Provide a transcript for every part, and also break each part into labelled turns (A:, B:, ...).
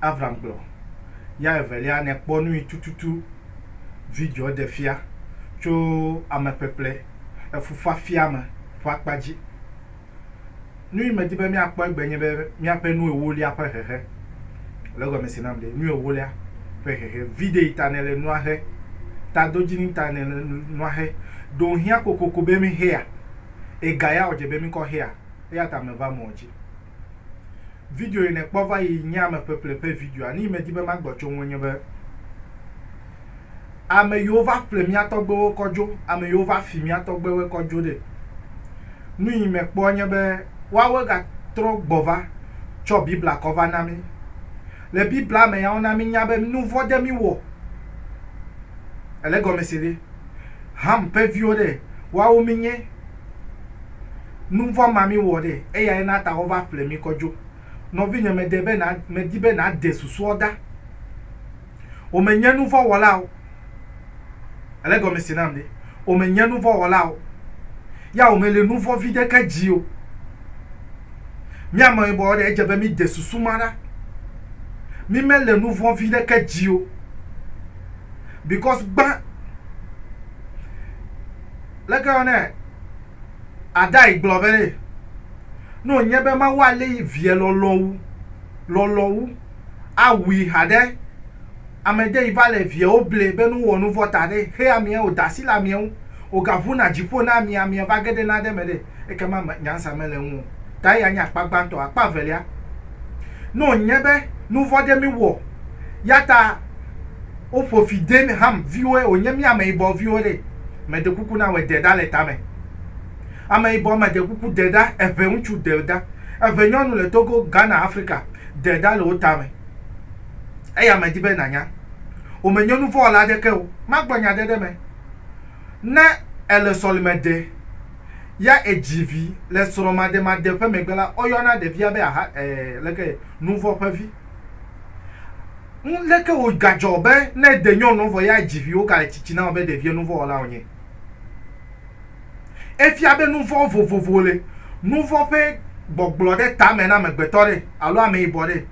A: Avram gblɔ ya evelia nèkpɔ nui tututu videoa ɖe fia tso ameƒeƒle efufafia me ƒe akpa dzi. Nui medi be míakpɔ egbe nye be míaƒe nu ewolia ƒe hehe. Le egɔmesi nam ɖe, nu ewolia ƒe hehe. Videi ta nèle nua he? Tadodzini ta nèle nua he? Ɖe wòhiã kokoko be míhea? Egayea wòdze be míkɔ hea? Eya ta meva mɔ̃ dzi. Video yi nèkpɔ va yi nye ameƒeƒle ƒe videoa. Nu yi medi be magblɔ tso ŋu enye be, ame yiwo va ƒle mía tɔgbewo kɔ dzo, ame yiwo va fi mía tɔgbewoe kɔ dzo ɖe. Nu yi mekpɔ nye be woawoe gatrɔ gbɔ va tsɔ Biblia kɔ va na mí. Le Biblia me ya wona mínya be nu vɔ̃ ɖe mí wɔ. Èle egɔme se ɖe? Ham ƒe viwo ɖe, woawo mínye. Nu vɔ̃ ma míwɔ ɖe, eyae na ta wova ƒle mí kɔ dzo. Nɔvinye, mede be na, medi be nàde susuɔ ɖa. Wò menye nu vɔ̃ wɔla o. Èle egɔme se nam ɖe? Wò menye nu vɔ̃ wɔla o. Ya wò mele nu vɔ̃ viɖe ke dzi o. Mí ameyibɔwo ɖe, edze be míde susu ma ɖa. Mí mele nu vɔ̃ viɖe ke dzi o. Because gbã, leke yɔnɛ? Adai gblɔ be, Ne wònye be Mawu alé yi Viɛ lɔlɔ̃wu, lɔlɔ̃wu, awui haɖe, ame ɖe yi va le viɛwo ble be ne wowɔ nu vɔ̃ ta ɖe, he amiɛ, wòda asi le amiɛ ŋu, wògaʋu na dziƒo na amiɛ, amiɛ va ge ɖe nane me ɖe, ekema me, nyansa mele eŋu o. Ta eya nye akpa gbãtɔ. Akpa evelia, ne wònye be nu vɔ̃ ɖe míwɔ, ya ta wo ƒo fi den Ham viwoe wo nye mía ameyibɔ viwo ɖe, me ɖe kuku na wɔ de ɖa le tame. Ameyibɔ me ɖe kuku de ɖa eʋe ŋutsu de ɖa eʋe nyɔnu le Togo, Ghana, Afrika de ɖa le wo tame. Eya me di be na nya. Wo me nye nuvɔ wɔla aɖeke o. Ma gblɔ nya ɖe ɖe me. Ne ele sɔlime ɖe, ya edzi vi le srɔ̃ maɖe maɖe ƒe megbe la, wo yɔna ɖevia be aha, eh, leke, nuvɔ ƒe vi. Nu leke wo gadzɔ be ne de nyɔnu vɔ ya dzi viwo gale tsitsi na wo be ɖevia nu vɔ wɔla wonye? Efia be nu vɔ vovovo le. Nu vɔ ƒe gbɔgblɔ ɖe tame na amegbetɔ ɖe alo ameyibɔ ɖe.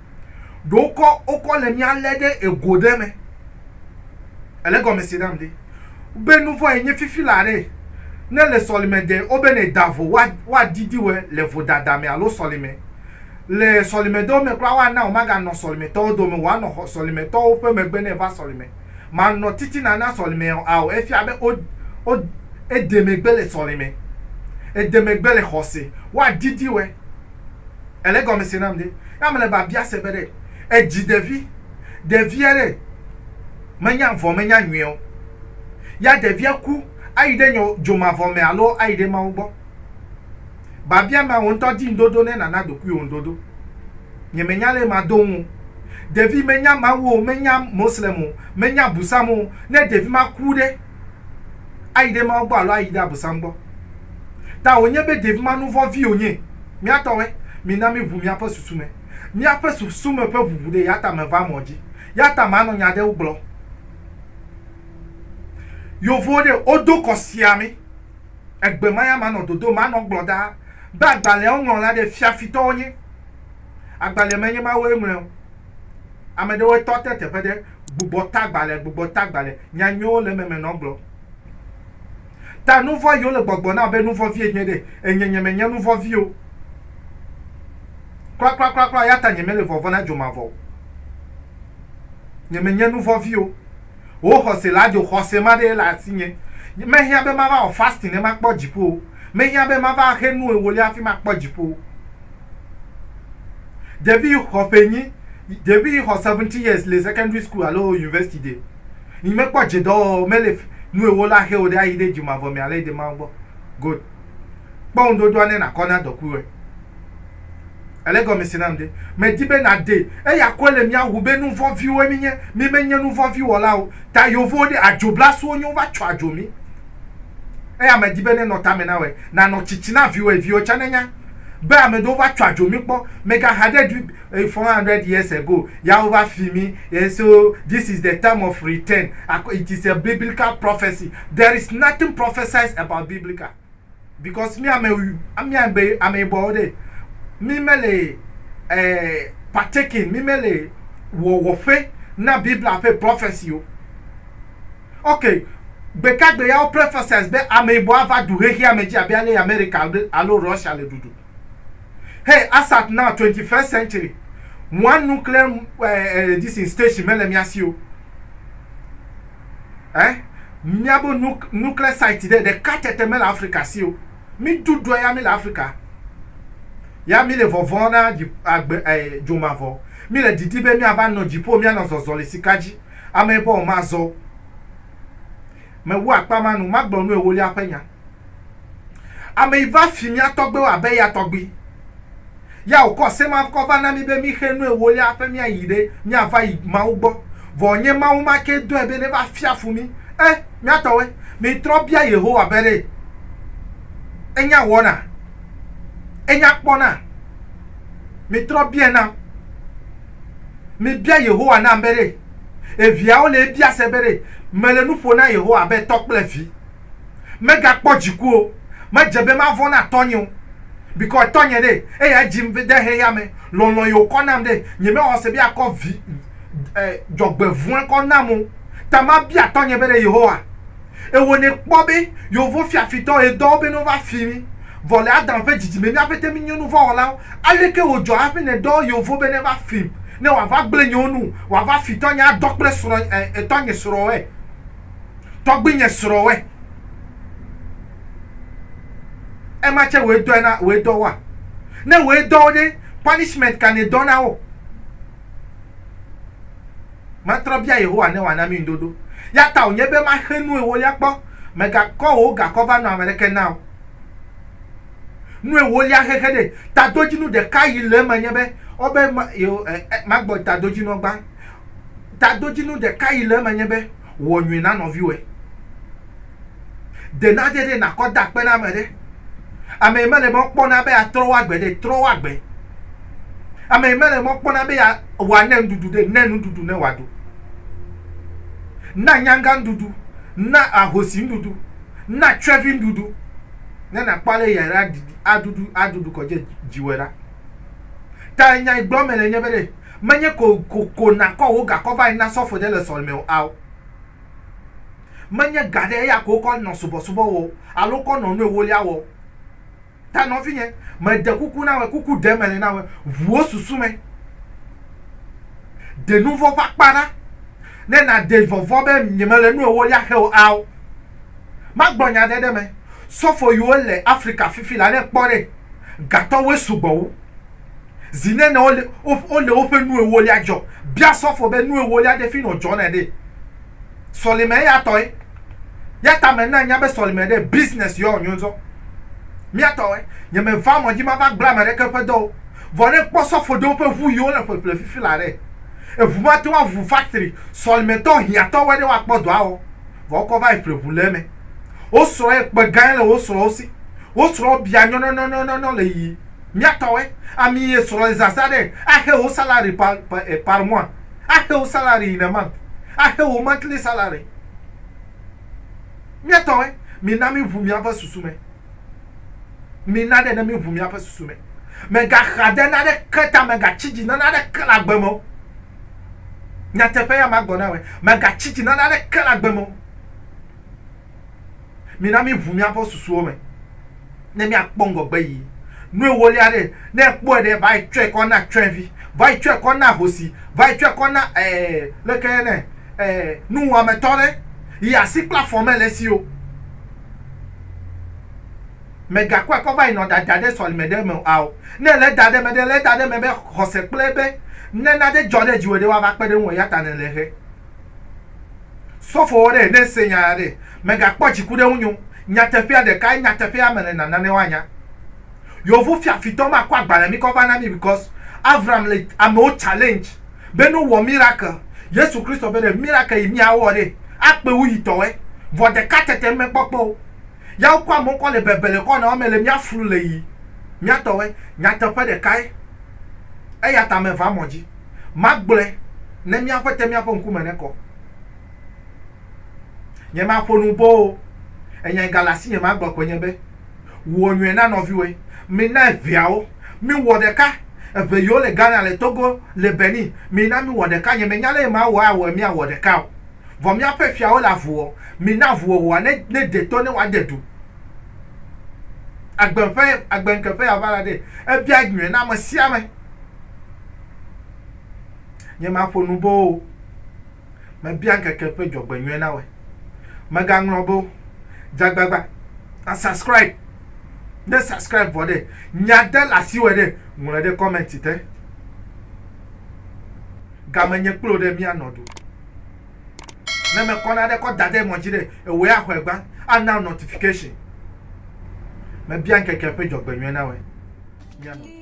A: Ɖewo kɔ wokɔ le mía le ɖe ego ɖe me. Ele gɔme se nam ɖe. Be nu vɔ enye fifi la ɖe. Ne le sɔlime de wo be ne da vo wa wa didi we le vodada me alo sɔlime. le sɔlimedɔ me kura woana wòmaganɔ sɔlimetɔwo dome o, wòanɔ xɔ, sɔlimetɔwo ƒe megbe ne eva sɔlime. Manɔ titina na sɔlime o, ao, efia be wo, wo, ede megbe le sɔlime. Ede megbe le xɔse. Woadidi wɔe. Èle egɔme se nam ɖe? Ya mele biabia se be ɖe èdzi ɖevi, ɖevia ɖe menya vɔ menya nyuie o, ya ɖevia ku ayi ɖe nyɔ, dzomavɔ me alo ayi ɖe Mawu gbɔ. Biabia ma, wò ŋutɔ di ŋuɖoɖo ne nàna ɖokuiwò ŋuɖoɖo. Nyemenya lé mado ŋu o. Ɖevi menya Mawu o, menya Moslem o, menya Busam o. Ne ɖevi ma ku ɖe, ayi ɖe Mawu gbɔ alo ayi ɖe Abusam gbɔ? Ta wònye be ɖevi ma nuvɔ̃ vi wònye. Mía tɔwoe. Mina míʋu míaƒe susu me. Míaƒe susu me ƒe ʋuʋu ɖee, yata meva mɔ dzi. Yata manɔ nya aɖewo gblɔ. Yovowo ɖe, wodo kɔ siaa mí. egbe ma ya manɔ dodo ma nɔ gblɔ ɖaa be agbalẽawo ŋlɔ la ɖe fiafitɔwo nye agbalẽ menye mawoe ŋlɔe o. Ame ɖewoe tɔ te teƒe ɖe gbugbɔ ta agbalẽ gbugbɔ ta agbalẽ nya nyuiwo le eme me nɔ gblɔ ta nuvɔa yiwo le gbɔgbɔ na be nuvɔ vie nye ɖe enye nye menye nuvɔ vi o kurakurakura ya ta nye mele vɔvɔ na dzomavɔ o nye menye nuvɔ vi o. Wò xɔse la dzo xɔse ma ɖee le asinye. Mehiã be mava wɔ fasting ne makpɔ dziƒo o. Mehiã be mava axe nu ewolia hafi makpɔ dziƒo o. Ɖevi yi xɔ ƒe enyi, ɖevi yi xɔ seventeen years le secondary school alo university ɖe yi mekpɔ dze dɔwɔwɔ mele nu ewola xe o ɖe ayi ɖe dzomavɔ me ale yi ɖe Mawu gbɔ. Good. Kpɔ ŋuɖoɖoa ne nàkɔ na dɔkuiwɔe. Ele gɔme se nam ɖe. Medi be nàɖee. Eya koe le mía ŋu be nu vɔ̃ viwoe míenye. Mí menye nu vɔ̃ vi wɔla o. Ta yovowo ɖe adzo blasuwo nye wova tsɔ adzo mí. Eya medi be nenɔ tame na wɔe. Nanɔ tsitsi na viwɔeviwo tsã nenya be ame ɖewo va tsɔ adzo mí kpɔ. Mègaha ɖe ɖui Eye four hundred years ago ya wova fi mi and so this is the time of return ak it is a biblical prophecy there is nothing prophesies about biblical because mi ame mi ame ame yibɔwo ɖe mi mele eh, partaking mi mele wɔwɔƒe na biblia ƒe prophecy o ok gbekagbe ya wo prophesies be ame yibɔ ava du xexea me dzi abe ale america alo russia le dudu Hey, ASAP now, 21st century. One nuclear uh, uh, this station mele mia si o. Eh? Mia bo nuclear site de de katete mele Africa si o. Mi dudu ya mi le Africa. Ya mi le vɔvɔ na agbe eh, jomavɔ. Mi le didi be mi ava no jipo mi anɔ zɔzɔ le sikaji. Ame bo ma zo. Me wo akpa manu, ma gblɔ nu ewolia pe nya. Ame yi va fi mía tɔgbewo abe eya tɔgbi. Ya wòkɔ semavkɔ va na mí be míxe nu ewolia hafe míayi ɖe míava yi Mawu gbɔ. Vɔ nye Mawu ma kee dɔe be neva fia fu mí. E, mía tɔwoe, mitrɔ bia Yehowa be ɖe enya wɔna, enya kpɔna. Mitrɔ biae nam. Mibia Yehowa nam be ɖe eviawo le ebia se be ɖe mele nu ƒo na Yehowa abe tɔ kple vi. Megakpɔ dziku o, medze be mavɔ̃ na tɔnye o, bikɔ tɔnye ɖe, eya edzim be de xexea me, lɔlɔ̃ ye wòkɔ nam ɖe, nyemexɔ se be akɔ vi e dzɔgbevɔ̃e kɔ nam o, ta mabia tɔnye be ɖe Yehowa, ewɔ nɛ kpɔ be yewovo fiafitɔ ye dɔ wo be no va fi mi, vɔ le Adam ƒe dzidzime mía ƒete mi nye nuvɔ̃wɔlawo, aleke wò dzɔ hafi ne dɔ yewovo be ne va fim, ne wòava gblẽ nyewo nu, wòava fi tɔnye adɔ kple srɔ̃ e tɔnye srɔ̃ ɛ? Tɔgbuinye srɔ wɛ. Ema tse woe dɔe na woe dɔ woa? Ne woe dɔ wo ɖe, punishment ka ne dɔ na wo? Matrɔ bia Yehowa ne wòana mi ŋuɖoɖo. Ya ta wònye be maxe nu ewolia kpɔ. Mègakɔ wò gakɔ va nɔ ame aɖeke na o. Nu ewolia xexe ɖe. Tadodzinu ɖeka yi le eme nye be, wobe ma, yewo, e, e, magbɔ tadodzinuɔ gbã. Tadodzinu ɖeka yi le eme nye be, wɔ nyui na nɔviwɔe. De nane ɖi nàkɔ da akpe na ame ɖe. Ame yi mele be woakpɔ na be yeatrɔ wo agbe ɖe, trɔ wo agbe. Ame yi mele be woakpɔ na be ya, wòane nuɖuɖu ɖe, nae nuɖuɖu ne wòaɖu. Na nyanga nuɖuɖu, na ahosi nuɖuɖu, na tsyɔ̃evi nuɖuɖu ne nàkpɔ ale ya ɖa aɖuɖu aɖuɖu kɔ dze dziwɔe ɖa. Ta nya yi gblɔm mele nye be ɖe. Menye kokoko nàkɔ wò gakɔ va yi na sɔfo ɖe le sɔlime o ao. Menye ga ɖe eya ko wokɔ nɔ subɔsubɔ wɔ o alo wokɔ nɔ nu ewolia wɔ o. Ta nɔvinye, meɖe kuku na wòe, kuku ɖem mele na wòe, ʋu wò susu me. Ɖe nu vɔ̃ ƒe akpa ɖa ne nàɖe vɔvɔ̃ be nyemele nu ewolia xe o ao. Magblɔ nya aɖe ɖe eme, sɔfo yiwo le Afrika fifi la, ne èkpɔ ɖe, gatɔwoe sugbɔ wu. Zi nene wole wole woƒe nu ewolia dzɔ. Bia sɔfo be nu ewolia ɖe fi nɔ dzɔnɛ ɖe. Sɔlime eya tɔe. Ya ta me na nya be sɔlime ɖe business yɔ nyo zɔ. Mia tɔe. Nye me va mɔ dzi ma va gblɔ ame ɖeke ƒe dɔwo. Vɔ ne kpɔ sɔfo ɖewo ƒe ʋu yiwo le ƒeƒle fifi la ɖe. Eʋu ma te woa ʋu factory sɔlime tɔ hiã tɔ wɔe ɖe woa kpɔ dɔa wɔ. Vɔ wokɔ va yi ƒle ʋu le eme. Wo srɔ ye kpe gãe le wo srɔwo si. Wo srɔ bia nyɔnɔnɔnɔnɔnɔ le yi. Miatɔwe, ami ye srɔ ye zaza ɖe, axe wo salary pa pa eh par mois, axe wo salary in a month, axe wo monthly salary. Miatɔwe, mina mi ʋu miaƒe susu me. Mina ɖe ne mi ʋu miaƒe susu me. Me ga xa de nane ke ta me ga tsi dzi na nane ke le agbe me o. Nyateƒe ya ma gɔ na we, me ga tsi dzi na nane ke le agbe me o. Mina míʋu míaƒe susuwo me ne míakpɔ ŋgɔgbe yi. Nu ewolia ɖe, ne ekpɔe ɖe, va yi tsɔe kɔ na tsyɔ̃evi, va yi tsɔe kɔ na ahosi, va yi tsɔe kɔ na ɛɛ leke yɔnɛ ɛɛ nuwɔametɔ ɖe yi asi kple afɔ mele esi o. Mègakɔe kɔ va yi nɔ ɖada ɖe sɔlime ɖe me ao. Ne èlé da ɖe eme ɖe, lée da ɖe eme be xɔse kple be nena ɖe dzɔ ɖe dziwò ɖe woava kpe ɖe ŋuwò eya ta nèlé he. Sɔfowɔ ɖe, ne èse nya ya ɖe, mègakpɔ dziku ɖe ŋunye o. Nyateƒea ɖekae, nyateƒea me le na nane woanya. Yeovu fiafitɔ ma kɔ agbalẽ mi kɔ va na mi because Avram le amewo challenge be no wɔ miracle. Yesu Kristo be ɖe miracle yi mia wɔ ɖe, akpe wu yi tɔwɔe. Vɔ ɖeka tete me kpɔ kpe o. Ya wokɔ amewo kɔ le bebe le kɔ na wo me le mia flu le yi mia tɔwɔe. Nyateƒe ɖekae. Eyata me va mɔ dzi. Magblɔe ne mía Ƒete mía ƒe ŋkume nekɔ. Nyemaƒo nu bɔ o, enyae gale asinye magblɔ koe nye be, Wɔ nyui na nɔviwòe. Mina eŋeawo. Miwɔ ɖeka. Eŋe yiwo le Ghana, le Togo, le Benin, mina miwɔ ɖeka. Nyemenya lé mawɔ awɔe míawɔ ɖeka o. Vɔ míaƒe fiawo le avu wɔm. Mina avuwɔwɔa nede to ne woade du. Agbeŋkeƒea va la ɖee. Ebia nyui na amesiame. Nyemaƒo nu boo o. Mebia ŋkeke ƒe dzɔgbenyuie nawɔe. Megaŋlɔ be o. Dzagbagba. Na subscribe. Ne subscribe vɔ ɖe, nya de le asi wɔ ɖe, ŋlɔe ɖe comment te. Game nye kplo ɖe mianɔ ɖu. Ne mekɔ na ɖe kɔ da ɖe mɔ dzi ɖe, ewɔe axɔe gbã. Ana notification. Mebia ŋkeke ƒe dzɔgbenyuie nawɔe. Mianɔ.